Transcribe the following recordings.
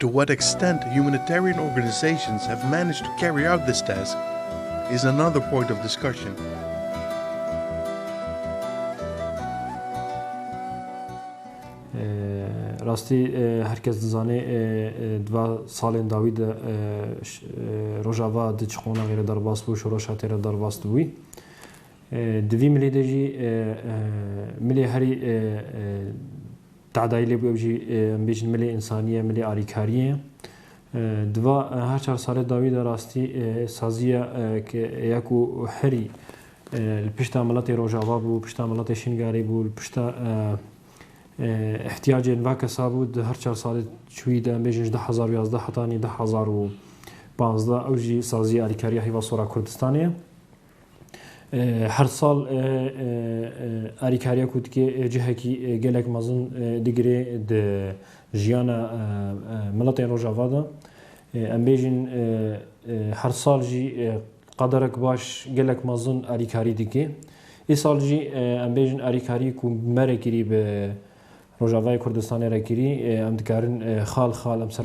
To what extent humanitarian organisations have managed to carry out this task is another point of discussion. Rastî her kes dizane di van salên dawî de Rojava di çi qonagê re derbas bû, şoreşa tê re derbas dibû. Di vî milê de jî milê herî Tehdayî lêbû ew jî em bêjin milê însaniyê, milê alîkariyê. Di va her çar salê dawî de rastî sazî ye ke ya ku herî li pişta miletê Rojava bû, pişta miletê Şingalê bû, li pişta îhtiyacên va kesa bû di her çar salê çûyî de em bêjin ji du hezar û yazdeh hetanî du hezar û panzdeh ew jî sazî alîkariya hêva sora Kurdistanê ye. Her sal alîkariya ku dike cihekî gelek mezin digire di jiyana miletên Rojava de. Em bêjin her sal jî qederek baş gelek mezin alîkarî dike. Îsal jî em bêjin alîkarî ku mere kirî bi Rojavayê Kurdistanê re kirî em dikarin xal xal em ser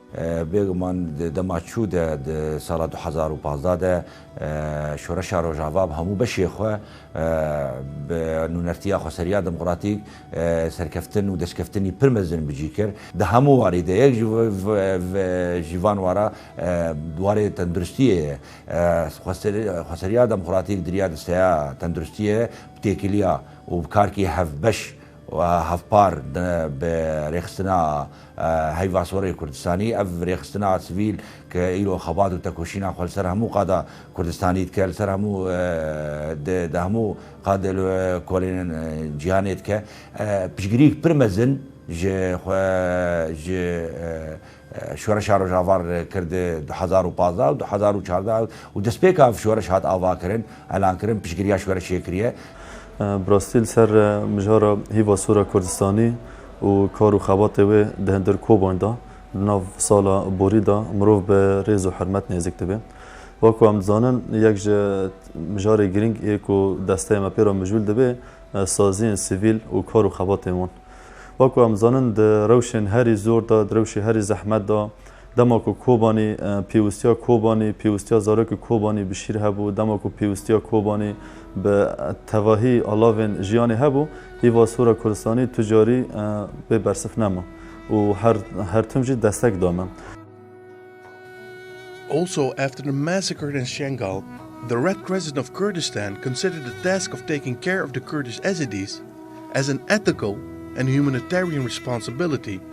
Bêguman di dema çû de, di sala du hezar û pazdeh de Şoreşa Rojava bi hemû beşê xwe, bi nûnertiya xweseriya demokratîk serkeftin û destkeftinî pir mezin bi cî kir. Di hemû warî de yek ji van wara warê tenduristiyê ye. Xweseriya demokratîk di riya desteya tenduristiyê bi têkiliya û bi karkî hevbeş û hevpar bi rêxistina Heyva Sorê Kurdistanî, ev rêxistina a sivîl ke îro xebat û tekoşîna xwe li ser hemû qada Kurdistanî dike, li ser hemû di di hemû qad li kolên cîhanê dike, piştgirîyek pir mezin ji xwe ji Şoreşa Rojavar kir di du hezar û pazdeh û du hezar û çardeh û destpêka ev şoreş hat avakirin, elankirin, piştgirîya şoreşê kiriye. Bi rastî li ser mijara Heyva Sora Kurdistanî û kar û xebatê wê di hundir koban de di nav sala borî de mirov bi rêz û hurmet nêzik dibe. Wek ku em dizanin yek ji mijarê girîng ê ku desteyê me pê re mijûl dibe saziyên sivîl û kar û xebatên wan. Wek ku em dizanin di rewşên herî zor de, di rewşê herî zehmet de, Dema ku Kobanî pêwistiya Kobanî, pêwistiya zarokê Kobanî bi şîr hebû, dema ku pêwistiya Kobanî bi tevahî alavên jiyanê hebû, îva Sora Kurdistanî tu carî bê bersif nema û her her tim jî destek da me. Also, after the massacre in Shengal, the Red Crescent of Kurdistan considered the task of taking care of the Kurdish Ezidis as an ethical and humanitarian responsibility.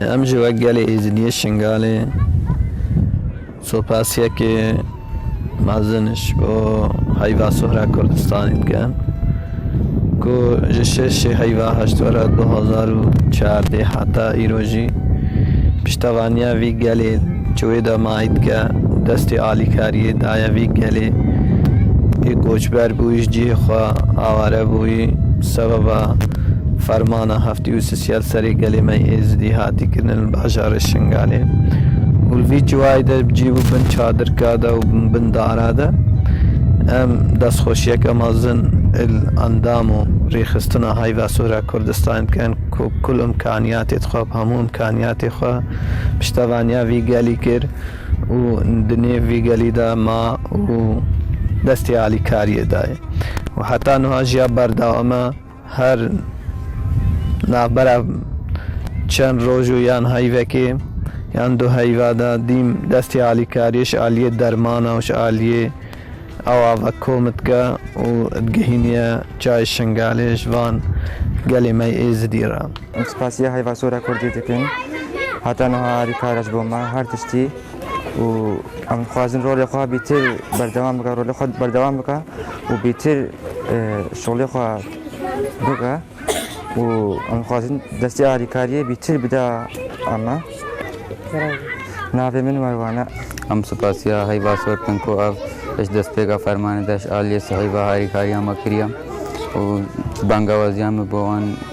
Em jî wek gelê Êzidiyê Şingalê sopasiyekê mezin ji bo heyva Suhra Kurdistanê dikin ku ji şeşê heyva heştwera du hezar û çardeh heta îro jî piştevaniya vî gelê ji wê demay dike û destê alîkariyê daye vî gelê yê koçber bûyî ji cihê xwe aware bûyî bi sebeba fermana Dî û sisiyal serê gelê me yê Êzidî hatî kirin li bajarê Şingalê û li vî ciwayê de cî bû bin çadirka de û bin dara de. Em destxweşiyeke mezin li endam û rêxistina Heyva Sora Kurdistanê dikin ku kul imkaniyatê dixwe, bi hemû imkaniyatê xwe piştevaniya vî gelî kir û di nêv vî gelî de ma û destê alîkariyê dayê û heta nuha jiya berdewam e. Her navbera çend roj û yan heyvekê yan du heyva de dîm destê alîkariyê ji aliyê dermana û ji aliyê awa ve kom dike û digihîniye çayê Şingalê ji van gelê me yê Êzidî re. Em spasiya Heyvasora Kurdî dikin. Heta niha alîkar e ji bo me her tiştî. û em dixwazin rolê xwe bîtir berdewam bike rolê xwe berdewam bike û bîtir e, şolê xwe bike û em dixwazin destê alîkariyê bîtir bide eme navê min merwane Em spasiya heyva sor dikin ku ev ji destpêka fermanê de ji aliyê sihîva harîkariya me kiriye û bangewaziya me bo wan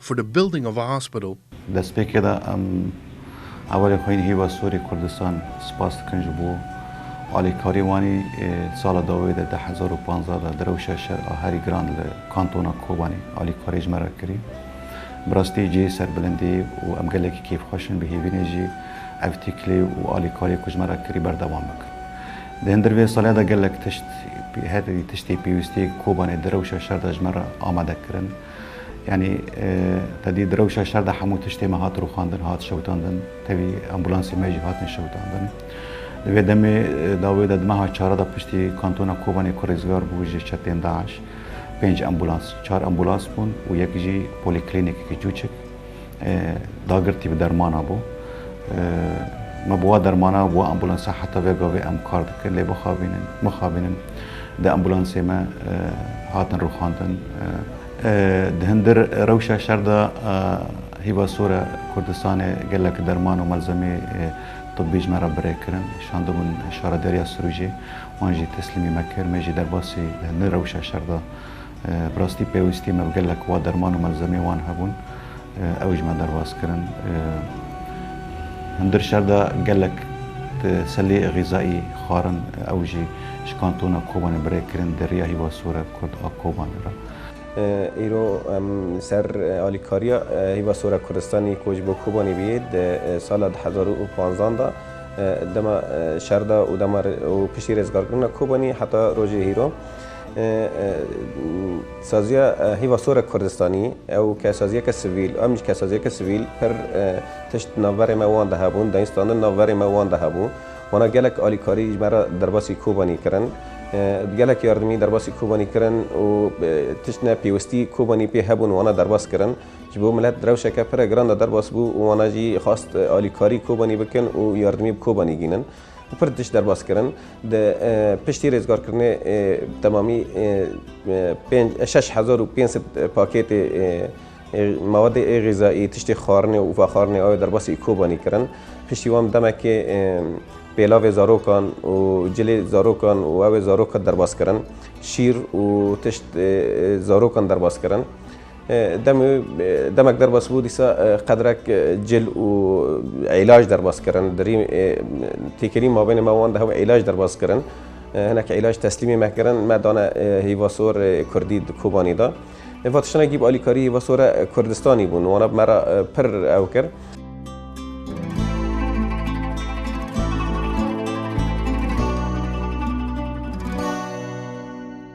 for the building of a hospital. Di destpêkê de em Hevalên Xwîn Hîva Sûrî Kurdistan spas dikin ji bo alîkarî wanî. Sala dawî de deh hezar û panzdeh de di rewşa şer a herî giran li kantona Kobanî alîkarî ji me re kirî. Bi rastî cihê serbilindî û em gelekî kêfxweş in, bihêvînê jî ev tîklî û alîkariyê ku ji me re kirî berdewam bikin. Di hindir vê saliya de gelek tişt, herî tiştê pêwîstiyê Kobanê di rewşa şer de ji me re amade kirin. Yanî tedî di rewşa şer de hemû tiştê me hat rûxandin, hat şewitandin, tevî ambûlansê me jî hatin şewitandin. Di vê demê dawê de di meha çare de piştî kantona Kobanê ku rêzgar bû ji çetên DAIŞ, pênc ambûlans, çar ambûlans bûn û yek jî polîklînîkeke çûçik Dagirtî bi dermana bû. Me bi wa dermana û bi wa ambulansa heta vê gavê em kar dikin lê bixabînin, mixabînin di ambulansê me hatin rûxandin. Di hindir rewşa şer de Hîva Sore Kurdistanê gelek derman û malzemeyê tibî ji me re birêk kirin. Şandibûn Şaredariya Sirûcê, wan jî teslîmî me kir. Me jî derbasî di hindir rewşa şer de Bi rastî pêwîstî me bi gelek wa derman û melzemeyê wan hebûn, ew ji me derbas kirin. Hundir şer de gelek selê xîzayî xwarin ew jî ji kantona Kobanê bi rê kirin di riya Hîva Sore Kurd a Kobanê re. Îro em li ser alîkariya Hîva Sore Kurdistanê ku ji bo Kobanê bûye di sala du hezar û panzan de dema şer de û dema û piştî rêzgarkirina Kobanê heta rojê hîro, Saziya hêva sor e kurdistanî, ew kesaziyeke sivîl, em jî kesaziyeke sivîl pir tişt di navberê me wan de hebûn, dayîn standin navberê me wan de hebû. Wana gelek alîkarî ji me re derbasî Kobanî kirin. Gelek yardimî derbasî Kobanî kirin û tişt ne pêwistî Kobanî pê hebûn wana derbas kirin. Ji bo milet rewşeke pire giran de derbas bû û wana jî xwest alîkarî Kobanî bikin û yardimî bi Kobanî gînin. Bi pir tişt derbas kirin. Di piştî rêzgarkirinê bi temamî pênc şeş hezar û pênc sed pakêtê mewedê ê xîzayî, tiştê xwarinê û vexwarinê awe derbasî Îkobanî kirin. Piştî wan bi demekê pêlavê zarokan û cilê zarokan û ew ê zarokan derbas kirin. Şîr û tişt zarokan derbas kirin. Demê demek derbas bû dîsa qedrek cil û îlaj derbas kirin. Dirî têkilî mabênê me wan de hew îlaj derbas kirin. Hinek îlaj teslîmê me kirin, me dane hîvasor kurdî di Kobanî de. Va tiştine gîb alîkarî hîvasore Kurdistanî bûn. Wana bi me re pir ew kir.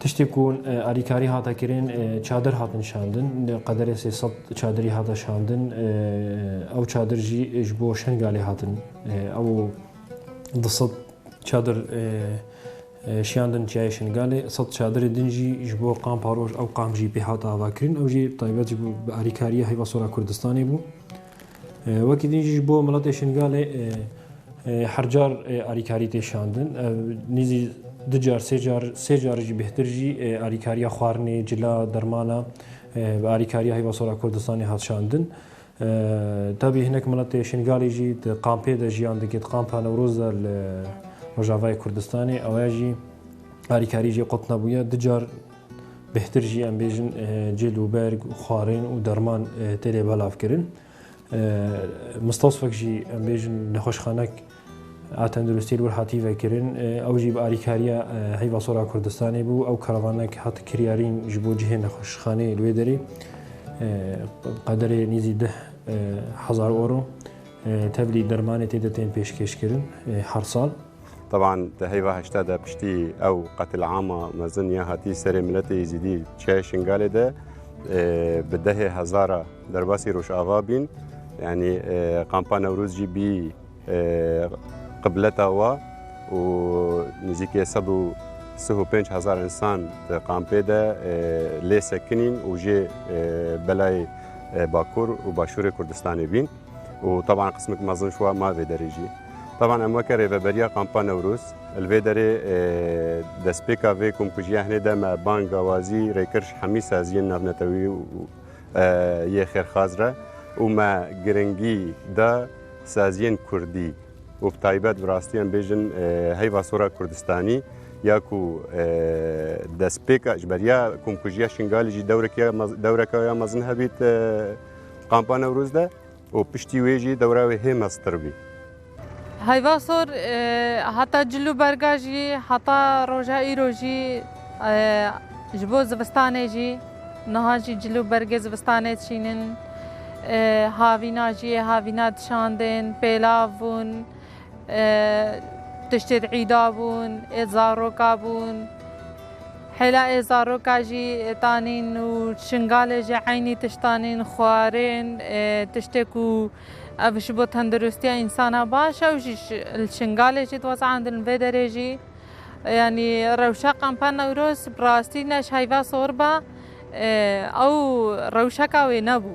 Tiştê ku alîkarî hate kirin çadir hatin şandin. Qederê sê sed çadirî hate şandin. Ew çadir jî ji bo Şengalê hatin. Ew di sed çadir şiyandin çiyayê Şengalê. Sed çadirê din jî ji bo Qamparoj ew qam jî pê hate avakirin. Ew jî taybet ji bi alîkariya heyva sora Kurdistanê bû. Wekî din jî ji bo miletê Şingalê her car alîkarî tê şandin. Ev nîzî du car sê car sê carî jî bêhtir jî alîkariya xwarinê, cila, dermana bi alîkariya Heyva Sor a Kurdistanê hat şandin. Tabî hinek miletê Şingalê jî di kampê de jiyan dike di kampa Newroz de li Rojavayê Kurdistanê. Ewaya jî alîkarî jê qut nebûye. Du car Bêhtir jî em bêjin cil û berg û xwarên û derman tê lê belavkirin. Mistasfek jî em bêjin nexweşxanek a tenduristiyê li wir hatî vekirin. Ew jî bi alîkariya Heyva Sora Kurdistanê bû. Ew karavanek hat kiryarîn ji bo cihê nexweşxanê li wê derê. Qederê nêzî deh hezar euro tevlî dermanê tê de tên pêşkêşkirin her sal. طبعا di heyva heşta de piştî ew qetilama mezin ya hatî serê miletê Êzîdî çiyayê Şingalê de bi dehê hezara derbasî Rojava bîn. Yanî Qampa Newroz jî bî qibleta wa û nizîkê sed û sih û pênc hezar însan di qampê de lê sekinîn û jê belayê Bakur û Başûrê Kurdistanê bîn. û taban qismek mezin şû ma vê derê jî. Taban em weke rêveberiya Kampa Newrûz li vê derê destpêka vê komkujiya hinê de me bang gawazî rêkirş hemî saziyên navnetewî yê xêrxaz re û me giringî da saziyên kurdî û bi taybet bi rastî em bêjin heyva sora kurdistanî ya ku destpêka ji beriya komkujiya Şingalî jî dewreke ya mezin hebît Kampa Newroz de û piştî wê jî dewra wê hê meztir bî. Heyva sor heta cil û berga jî heta roja îro jî ji bo zivistanê jî niha jî cil û bergê zivistanê diçînin. Havîna jî yê havîna dişandin, pêlav bûn. Tiştê êd îda bûn, êd zaroka bûn. Hêla êd zaroka jî tanîn û şingalê jî eynî tişt tanîn, xwarên, tiştê ku ev ji bo tendirustiya însana baş e û jî li şingalê jî dixwazin andin li vê derê jî. Yanî rewşa qampa Newroz bi rastî ne ji heyva sor be, ew rewşeka wê nebû.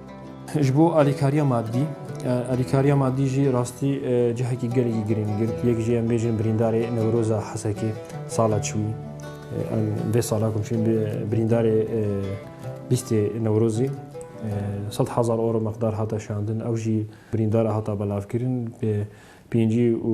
Ji bo alîkariya madî, alîkariya madî jî rastî cihekî gelekî girîng girt. Yek jî em bêjin birîndarê Newroza Hesekê sala çûyî. Em vê sala ku çûyî birîndarê lîstê Newrozî sed hezar euro miqdar hate şandin. Ew jî birîndara hata belavkirin pêncî û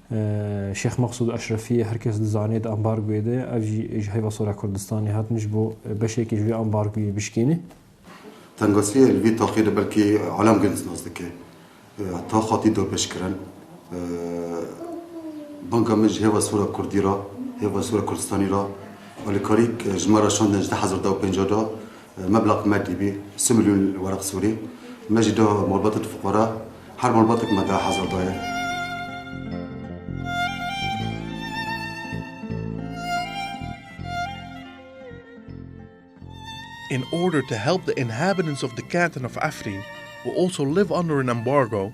Şêx Mexsûd Eşrefiyê her kes dizanê di ambargoyê de ye, ev jî ji heyva Sora Kurdistanê hat min ji bo beşekê ji wê ambargoyê bişkêne. Tengasiyê li vî taxê de belkî Alam Gilens nas dike. Tax hatî dorpêçkirin. Banga min ji hêva Sora Kurdî re, hêva Sora Kurdistanî re alîkarî ji me re şandin ji du hezar du û pêncah de Meblag madî bî si milyon weraq sûrî. Me jî da malbata tu fuqara. Her malbatek me deh hezar daye. In order to help the inhabitants of the canton of Afrin who also live under an embargo,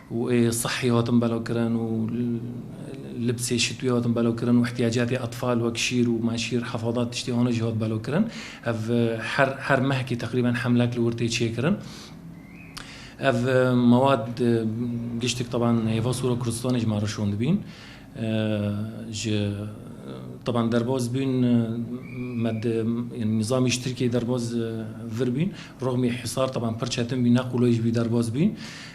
û ê sihî hatin belavkirin û libsê şitwî hatin belavkirin û îhtîyacatê etfal wek şîr û menşîr hefadat tiştê wan jî hat belavkirin. Ev her her mehkî teqrîben hemlek li wir tê çêkirin. Ev mewad giştik teban hêva Sûra Kurdistanê ji me re şon dibîn. Ji teban derbas bûn me nîzamî ji Tirkiyeyê derbas vir bûn. Rixmî hîsar teban pir çetin bû ne qulay jî bû derbas bûn.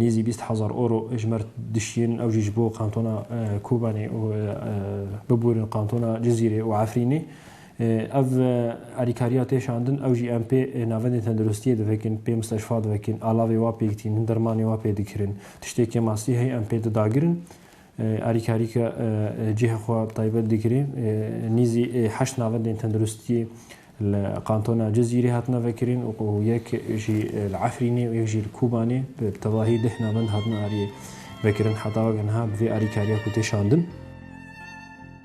Nêzî bîst hezar oro ji mer dişiyên ew jî ji bo kantona Kobanê û bibûrin kantona Cizîrê û Efrînê. Ev alîkariya tê şandin ew jî em pê navendên tendirustiyê divekin, pê misteşfa divekin, alavê wa pêk tînin, dermanê wa pê dikirin. Tiştê ke mastî hey em pê didagirin. Alîkarî ke cihê xwe bi taybet digire, nîzî heşt navendên tenduristiyê li kantona Cizîrê hatine vekirin û yek jî li Efrînê û yek jî li Kobanê bi tevahî deh navend hatine aliyê vekirin heta weke niha bi vê alîkariya ku tê şandin.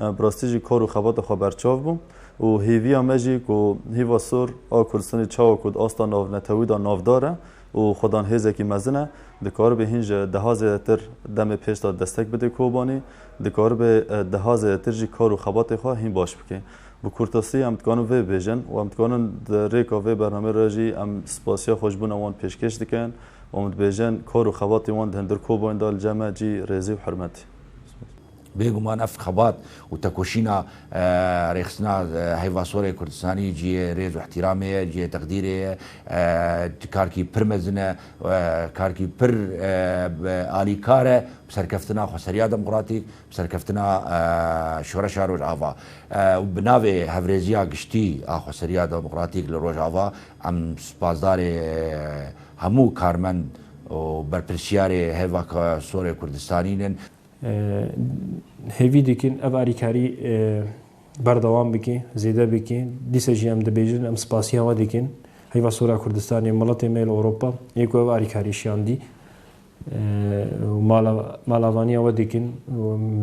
Bi rastî jî kar û xebata xwe berçav bû û hêviya me jî ku hîva sor a Kurdistanê çawa ku di asta navnetewî de navdar e û xwedan hêzekî mezin e, dikaribe hîn ji deha zêdetir demê pêş de destek bide Kobanî, dikaribe deha zêdetir jî kar û xebatê xwe hîn baş bike. Bi kurtasî em dikarin vê bibêjin û em dikarin di rêka vê bernameyê re jî em spasiya xweşbûna wan pêşkêş dikin û em dibêjin kar û xebatê wan di hundir Kobanî de li cem e cî rêzî û hirmetî. Bêguman ev xebat û tekoşîna rêxistina heyva sor ê Kurdistanî cihê rêz û îhtîramê ye, cihê teqdîrê ye. Karkî pir mezin e, karkî pir alîkar e bi serkeftina Xweseriya Demokratîk, bi serkeftina Şoreşa Rojava. Bi navê hevrêziya giştî a Xweseriya Demokratîk li Rojava em spasdarê hemû karmend û berpirsiyarê heyva sor ê Kurdistanî ne. Hêvî dikin ev alîkarî berdewam bike, zêde bike. Dîsa jî em dibêjin, em spasiya we dikin. Heyva Sora Kurdistanê, miletê me li Ewropa yê ku ev alîkarî şiyandî û malavaniya we dikin û em